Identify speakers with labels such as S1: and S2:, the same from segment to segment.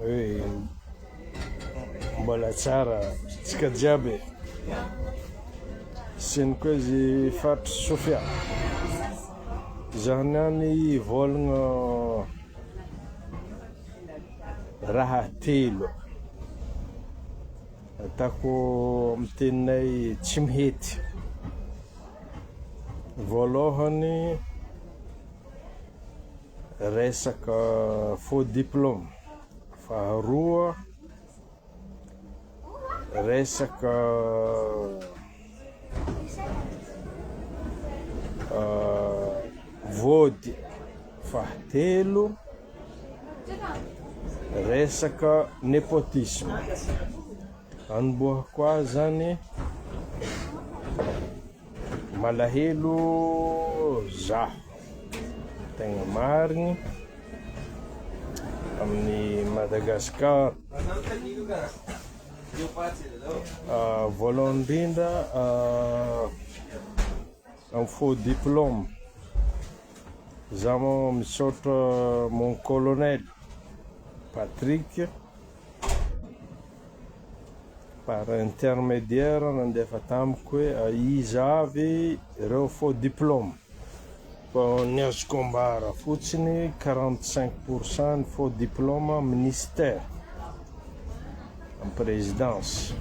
S1: Hey, mbola tsara tsika jiaby siny koa izy faritry sofia izany any volagna raha telo atako amin'ny teninay tsy mihety voalohany Resaka faux diplôme. Faharoa, resaka vôdy. Fahatelo, resaka nepotisme. Anombohako ahy zany malahelo za tegna marigny amin'ny Madagascar voalohany indrindra amin'ny faux diplôme za misaotra mon colonel Patrick Par intermédiaire nandefa tamiko hoe aiza avy ireo faux diplôme fa ny azoko ambara fotsiny quarante cinq pour cent ny faux diplôme ministère am présidence.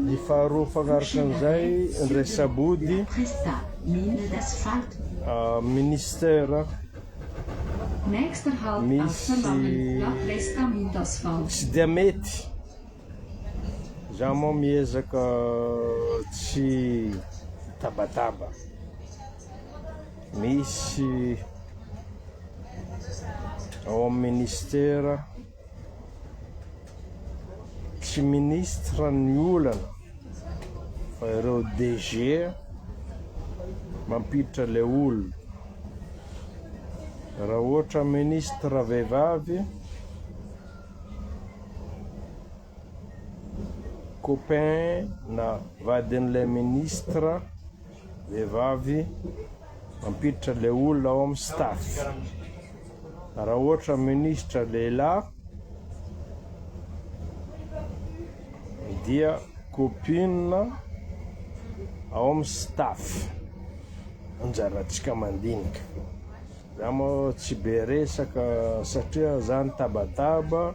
S1: Ny faharoa mifanaraka amin'izay, indray saboody, Ministera misy tsy dia mety, za moa miezaka tsy hitabataba, misy ao amin'ny Ministera. Tsy ministra ny olana fa ireo DG mampiditra le olona. Raha ohatra ministra vehivavy copain na vadin'ilay ministra. Vehivavy mampiditra le olona ao am staff. Raha ohatra ministra lehilahy dia copine ao am staff. Anjarantsika mandinika. Za moa tsy be resaka satria za nitabataba.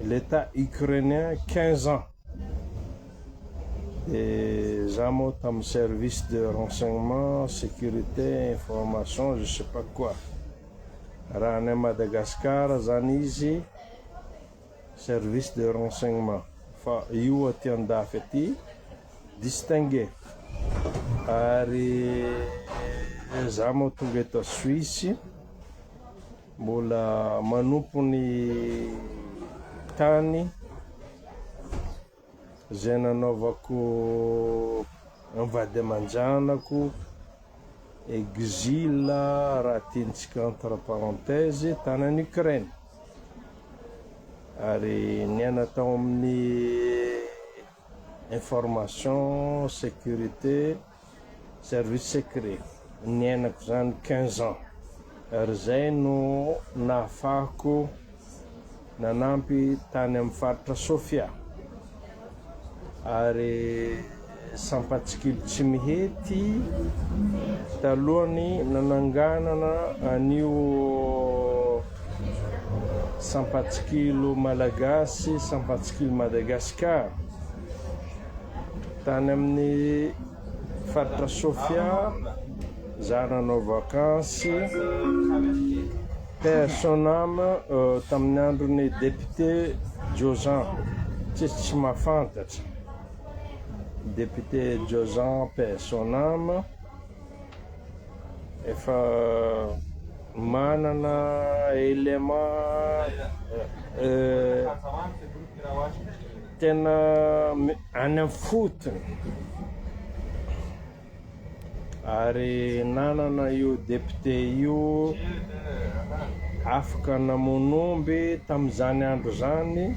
S1: L'etat ukrainien quinze ans de za moa tamin'ny service de renseignement, sécurité, information, je sais pas quoi raha any Madagascar zany izy service de renseignement fa io aty andafy aty distingué ary za moa tonga eto Suisse. Mbola manompo ny tany izay nanaovako ny vady aman-janako, exile raha tiantsika entre parenthèses, tany any Ukraine. Ary niaina tao amin'ny information, sécurité. Service secret niainako izany quinze ans ary izay no nahafahako nanampy tany amin'ny faritra Sofia ary sampatsikilo tsy mihety talohan'ny nananganana an'io sampatsikilo malagasy sampatsikilo Madagascar. Tany amin'ny faritra Sofia izaho nanao vakansy. Paix à son âme, tamin'ny andron'ny député Jozan, tsisy tsy mahafantatra député Jozan paix à son âme, efa manana élément. Tena any am fotony ary nanana io député io afaka namono omby tamin'izany andro izany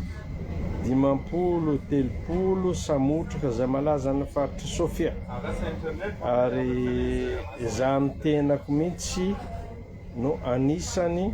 S1: dimampolo telopolo samotraka izay malaza any faritry sofia ary izaho ny tenako mihitsy no anisany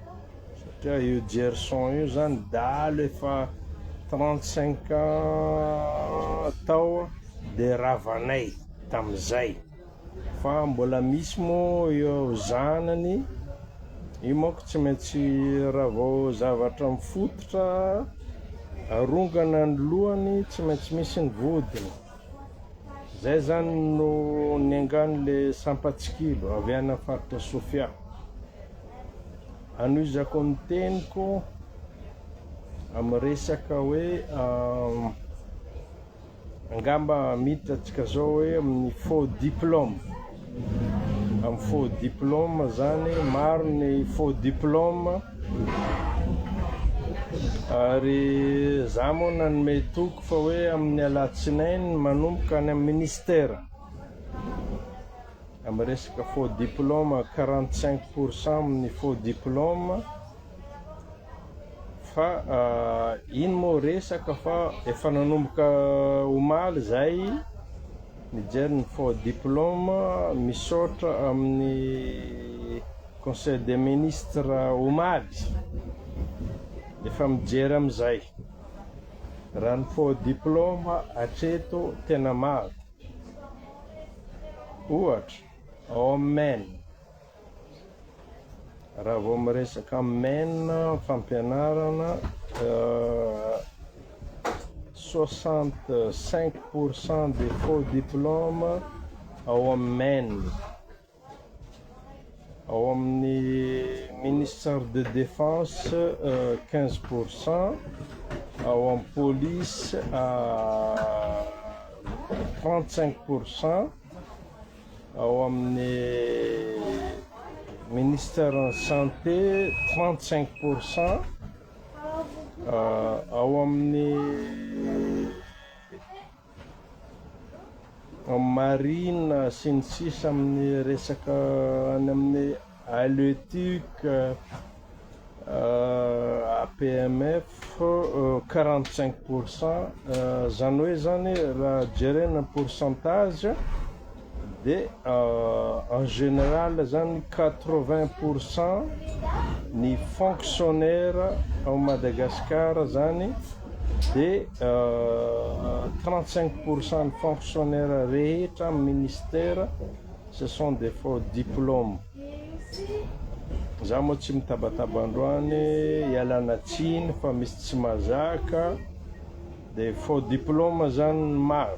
S1: Satria io Gerson io zany dahalo efa 35 ans tao de ravanay tamizay fa mbola misy mo eo zanany io manko tsy maintsy raha vao zavatra mifototra arongana ny lohany tsy maintsy misy ny vodiny. Zay zany no niangany le sampatsikilo avy any am faritra Sofia. Anohizako ny teniko am resaka hoe angamba miditra atsika zao hoe amin'ny faux diplôme. Am faux diplôme zany maro ny faux diplôme ary za moa nanome toky fa hoe amin'ny alatsinainy manomboka any am ministère am resaka faux diplôme quarante cinq pourcent amin'ny faux diplôme Fa ino moa resaka fa efa nanomboka omaly izay nijery ny faux diplôme, misaotra amin'ny conseil des ministres omaly, efa mijery amin'izay, raha ny faux diplôme hatreto tena maro, ohatra ao amin'ny. Raha vao miresaka men fampianarana soixante cinq pour cent de faux diplôme ao amin'ny men ao amin'ny ministère de défense quinze pour cent ao amin'ny police trente cinq pour cent Ao amin'ny Ministère ny Santé 35 pour cent, ao amin'ny Marine sy ny sisa amin'ny resaka any amin'ny. Haleotic, APMF, quarante cinq pour cent, izany hoe izany raha jerena pourcentage dia en général izany quatre vingt pour cent ny fonctionnaire ao Madagascar izany dia trente cinq pour cent ny fonctionnaire rehetra amin'ny ministère Ce sont des faux diplomes. Za moa tsy mitabataba androany ialana tsiny fa misy tsy mazaka de faux diplome zany ny maro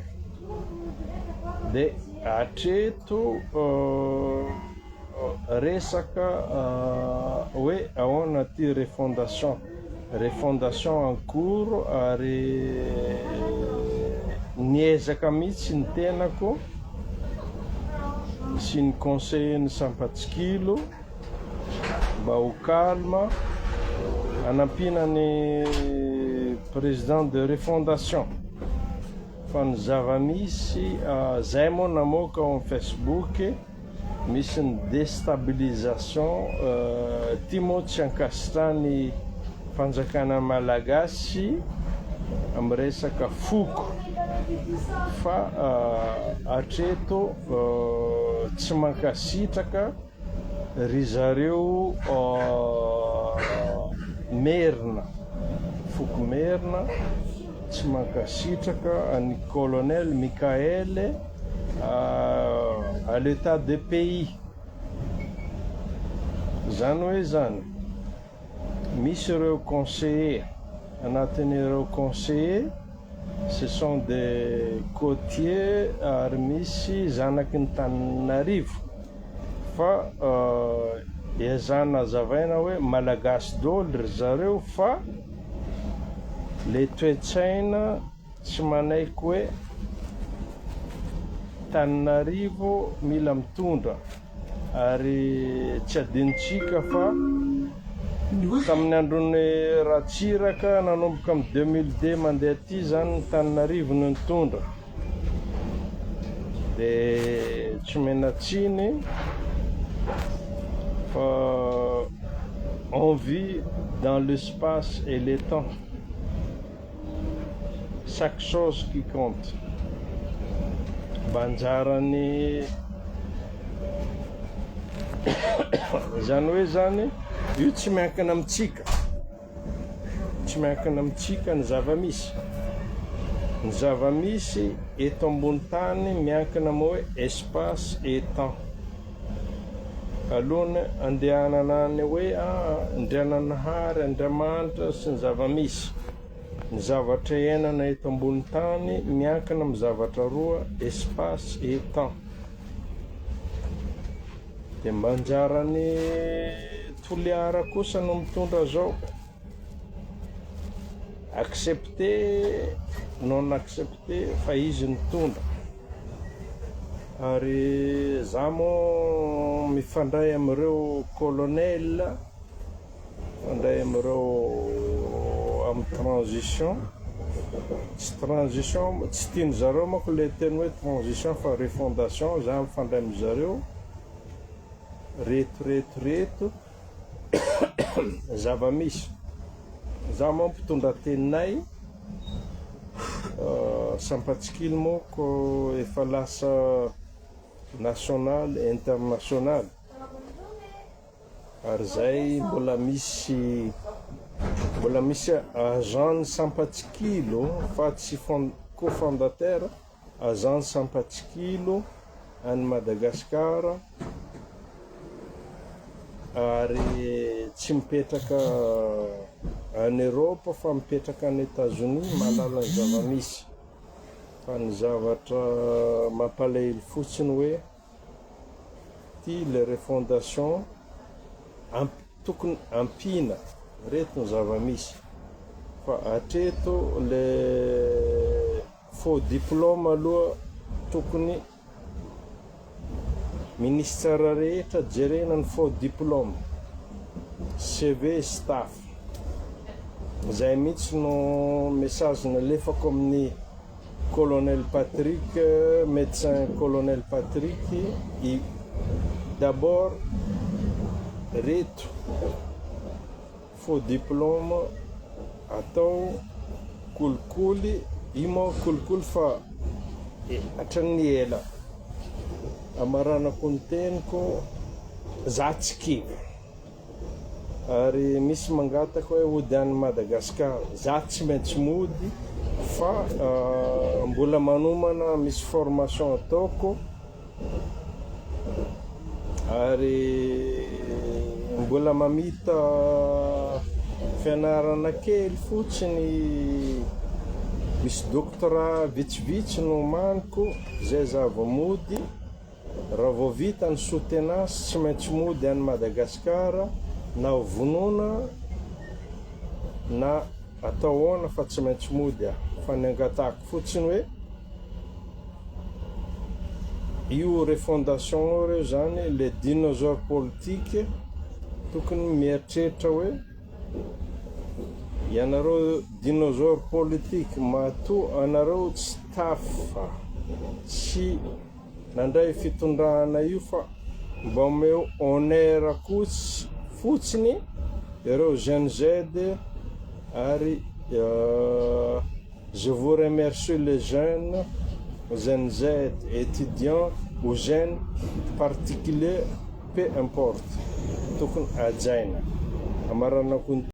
S1: de atreto resaka hoe ahoana ty refondation. Refondation en cours ary niezaka mihitsy ny tenako sy ny conseiller ny Sampatsikilo mba ho calme hanampiana ny président de refondation fa ny zava-misy zay moa namoaka ao amin'ny Facebook. Misy ny destabilisation ity moa tsy ankasitrahany fanjakana malagasy am resaka foko fa atreto tsy mankasitraka ry zareo merina foko merina tsy mankasitraka an'i colonel Mickaël à l'etat de pays zany hoe zany misy ireo conseillers anatin'ireo conseillers ce sont des cotiers ary misy zanaky ny tanin'arivo fa ezahina azavaina hoe malagasy daholo ry zareo fa le toe-tsaina Tsy manaiky hoe Tananarivo mila mitondra ary tsy adinontsika fa tamin'ny andron'i Ratsiraka nanomboka amin'ny deux mille deux mandeha aty izany ny Tananarivo no nitondra dia tsy omena tsiny fa on vit dans l'espace et le temps. Chaque chose qui compte mba anjaran'ny izany hoe zany io tsy miankina amintsika tsy miankina amintsika ny zava-misy ny zava-misy eto ambony tany miankina moa hoe espace et temps Alohan'ny handehanana any hoe aa Andriananahary, Andriamanitra sy ny zava-misy, ny zavatra iainana eto ambony tany miankina amin'ny zavatra roa, espace et temps. Dia mba anjaran'ny Toliara kosa no mitondra zao. Accepté non accepté fa izy nitondra ary za mo mifandray amin'ireo colonel mifandray amin'ireo amin'ny transition tsy transition tsy tiany zareo mako le teny hoe transition fa refondation za mifandray amizareo reto reto reto Zava-misy. Izaho moa mpitondra teninay, Sampatsikilo moa ko efa lasa nationale, internationale, ary izay mbola misy mbola misy agent ny Sampatsikilo fa tsy co-fondateur, Azan sampatsikilo any Madagascar ary tsy mipetraka any Europe fa mipetraka any Etazonia mahalala ny zava-misy fa ny zavatra mampalahelo fotsiny hoe ty le refondation tokony ampiana reto ny zava-misy fa atreto le Faux diplôme aloha tokony ministère rehetra jerena ny faux diplôme, CV sy taf. Zay mihitsy no message nalefako amin'ny Colonel Patrick, Médecin Colonel Patrick I. D'abord reto. Faux diplôme atao kolikoly, io moa kolikoly fa hatramin'ny ela. Hamaranako ny teniko, za tsy kivy. Ary misy mangataka hoe hody any Madagascar, za tsy maintsy mody fa mbola manomana misy formation ataoko. Ary mbola mamita fianarana kely fotsiny, misy doctorat vitsivitsy no omaniko, izay za vao mody, raha vao vita ny soutenance tsy maintsy mody any Madagascar na ho vonona na Atao ahoana fa tsy maintsy mody aho. Fa ny angatahako fotsiny hoe io refondation io re zany le dinosaure politique tokony mieritreritra hoe ianareo dinosaure politique matoa anareo tsy tafa sy Nandray fitondrana io fa mba omeo honneur kotsy fotsiny ireo Gen Z ary je vous remercie les jeunes Gen Z, étudiants ou jeunes particuliers peu importe tokony hajaina. Hamaranako ny.